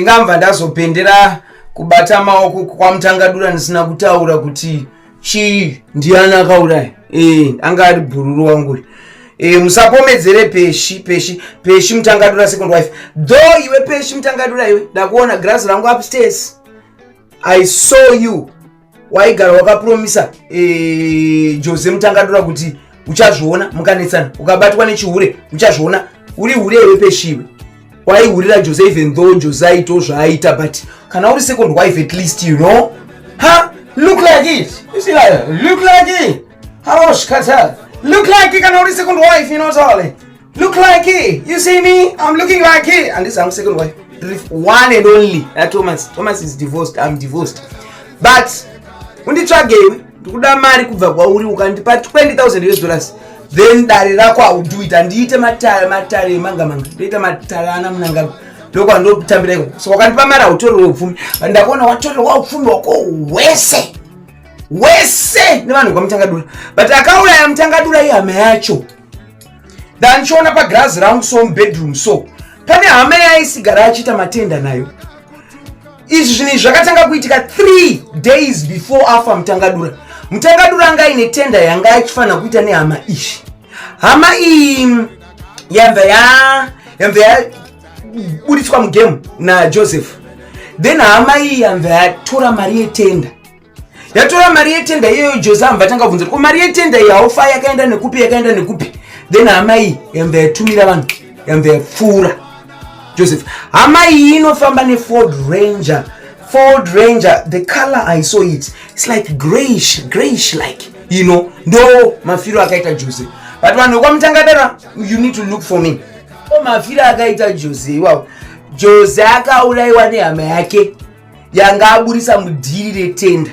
ndingabva ndazopendera kubata maoko kwamutangadura ndisina kutaura kuti chii ndiani akauraya e, anga ari bhururu wangu e, musapomedzere peshi peshi peshi mutangadura second wife dho iwe peshi mutangadura iwe ndakuona grazi rangu upstairs i saw you waigara wakapromisa eh, jose mutangadura kuti uchazviona mukanetsana ukabatwa nechihure uchazviona uri hure iwe peshiwe waihurira jose even though jose aito zvaaita but kana uri second wife at least you know ha look like it look like it haoshkata look like it kana uri second wife you know tole Look like here. You see me? I'm looking like here. And this I'm second wife. One and only. That Thomas. Thomas is divorced. I'm divorced. But unditsvagei ndikuda mari kubva kwauri ukandipa 20000 us dollars then dare rako auduita ndiite matare matare manga manga ndoita matare ana munanga ndokwandotambira iko so wakandipa mari autorerwe upfumi but ndakaona watorerwa upfumi wako wese wese nevanhu kwamutangadura but akauraya mutangadura ihama yacho ndandichiona pagirazi rangu so mubedroom so pane hama yaisigara achiita matenda nayo izvi zvinhu izvi zvakatanga kuitika three days before afa mutangadura mutangadura anga aine tenda yanga achifanira kuita nehama izvi hama iyi yabva yabva yaburitswa mugame najoseph then hama iyi yabva yatora mari yetenda yatora mari yetenda iyoyo jose amba atanga kubvunzira ko mari yetenda iyi haufa yakaenda nekupi yakaenda nekupi then hama iyi yamba yatumira vanhu yamba yapfuura joseph hama iyi inofamba neford ranger ford ranger the color i saw it its like grayish grayish like you know ndo mafiro akaita jose but vanhu vekwamutangadara you need to look for me o mafiro akaita jose iwawo jose akaurayiwa nehama yake yanga aburisa mudhiri retenda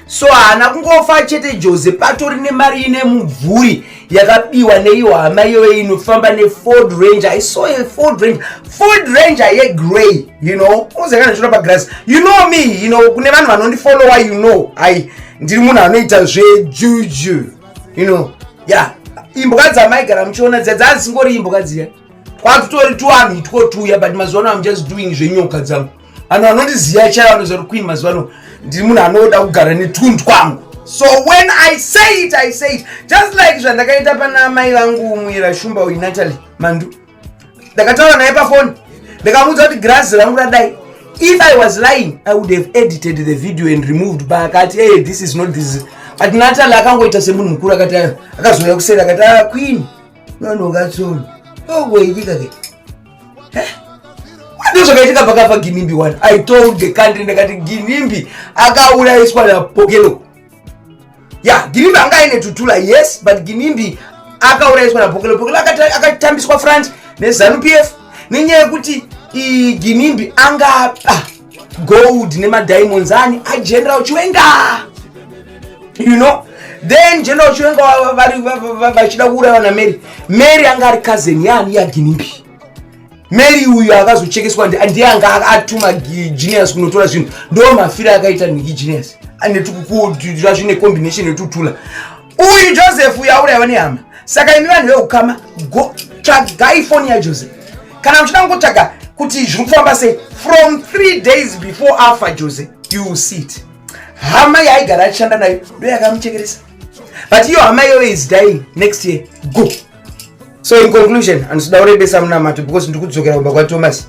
so haana kungofa chete jose patori nemari ine mubvuri yakabiwa neiyo hama iyoyo inofamba neford ranger i saw a ford ranger ford ranger yegrey you know uzekana zviro pagrass you know me you know kune vanhu vanondifollowa you know ai ndiri munhu anoita zvejuju you know ya yeah. imbwa dzamaigara muchiona dziya dzazisingori imbwa dziya kwatutori tuwanhu itwo tuya but mazuva ano am just doing zvenyoka dzangu vanhu vanondiziva chai vanoziva kuti queen mazuva ano ndiri munhu anoda kugara netund kwangu so when i say it i say it just like zvandakaita pana mai vangu muera shumba uyu natalie mandu ndakataura naye pafoni ndikamuudza kuti grazi rangu radai if i was lying i would have edited the video and removed but akati hey this is not this but natal akangoita semunhu mukuru akati akazouya kuseri akati ah, queen nonokatsono ogoitika ke ndo zvakaitika pakafa ginimbi one i told the country ndakati ginimbi akaurayiswa napokelo ya ginimbi anga aine tutula yes but ginimbi akaurayiswa napokelo pokelo akatambiswa france nezanu p f nenyaya yekuti ginimbi anga ah, gold nemadiamonds ani ageneral chiwenga you know then general chiwenga vachida kuuraiwa namary mary anga ari cousin yaani yaginimbi mary uyu akazochekeswa ndiye anga atuma genius kunotora zvinhu ndo mafiro akaita niki genius anetukukuazvine combination yetutula uyu joseph uyo auraiwa nehama saka imi vanhu veukama go tsvagai foni yajoseph kana muchida kungotsvaga kuti zviri kufamba sei from three days before afa jose you see it hama yaaigara achishanda nayo ndo yakamuchekeresa but iyo hama iyoyo is dying next year go so in conclusion andisida urebesa munamato because ndikudzokera kumba kwathomas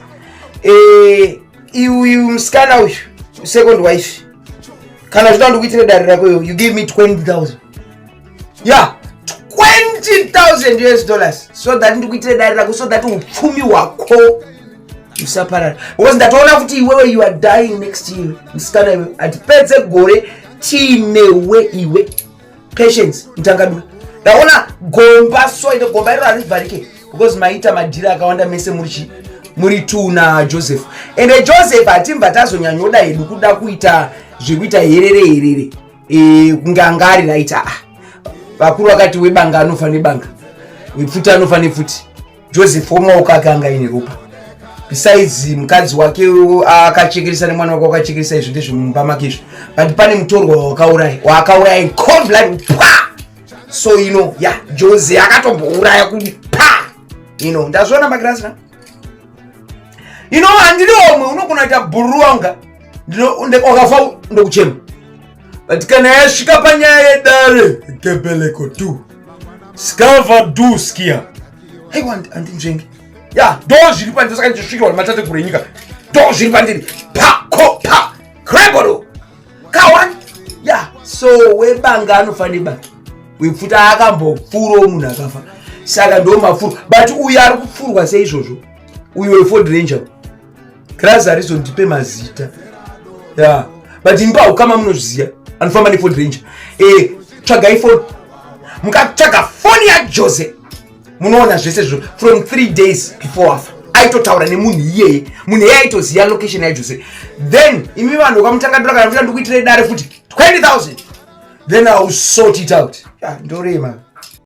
e, eh, iuyu musikana uyu second wife kana zvinoda ndikuitire dare rako iyo you give me 20000 ya 20000 us dollars so that ndikuitire dare rako so that upfumi hwako usaparara because ndatoona kuti iwewe you are dying next year musikana iwe handipedze gore tiinewe iwe patience mutangadura ndaona gomba so ine gomba iro harivharike because maita madhiri akawanda mese muri chii muri two na joseph ende eh, joseph hatimba tazonyanyoda hedu kuda kuita zvekuita herere herere eh, kunge anga ari right aa ah, vakuru vakati webanga anofa nebanga wepfuti anofa nepfuti joseph wemaoko ake anga ine ropa besides mukadzi wake akachekeresa nemwana wake wakachekeresa izvi ndezvemumba make izvi but pane mutorwa wakauraya waakauraya in cold blood pa so you know ya yeah, jose akatombouraya kuti pa you know ndazviona magirasi na you know handiri omwe unogona kuita bhururu wanga ndinokafa ndokuchema but kana yasvika panyaya yedare gebeleko tu skava du skia aiwa andinzvenge ya do zviri pandiri saka ndichisvikirwa nematateguru enyika do zviri pandiri pako pa kreboro kawani ya so webanga anofanira banga wepfuta akambopfuro munhu akafa saka ndomafuro but uyu ari kupfurwa seizvozvo uyu weford ranger Grazi harizondipe mazita. Yeah. But imba hukama munozviziva. Anofamba nephone ranger. Eh, tsvagai phone. Mukatsvaga phone yaJose. Munoona zvese zvo from 3 days before afa. aitotaura nemunhu iyeye munhu eye aitoziva location yaJose. Then imi vanhu vakamutanga ndora kana kuti ndikuitire dare futi 20000. Then I will sort it out. Yeah, ndorema.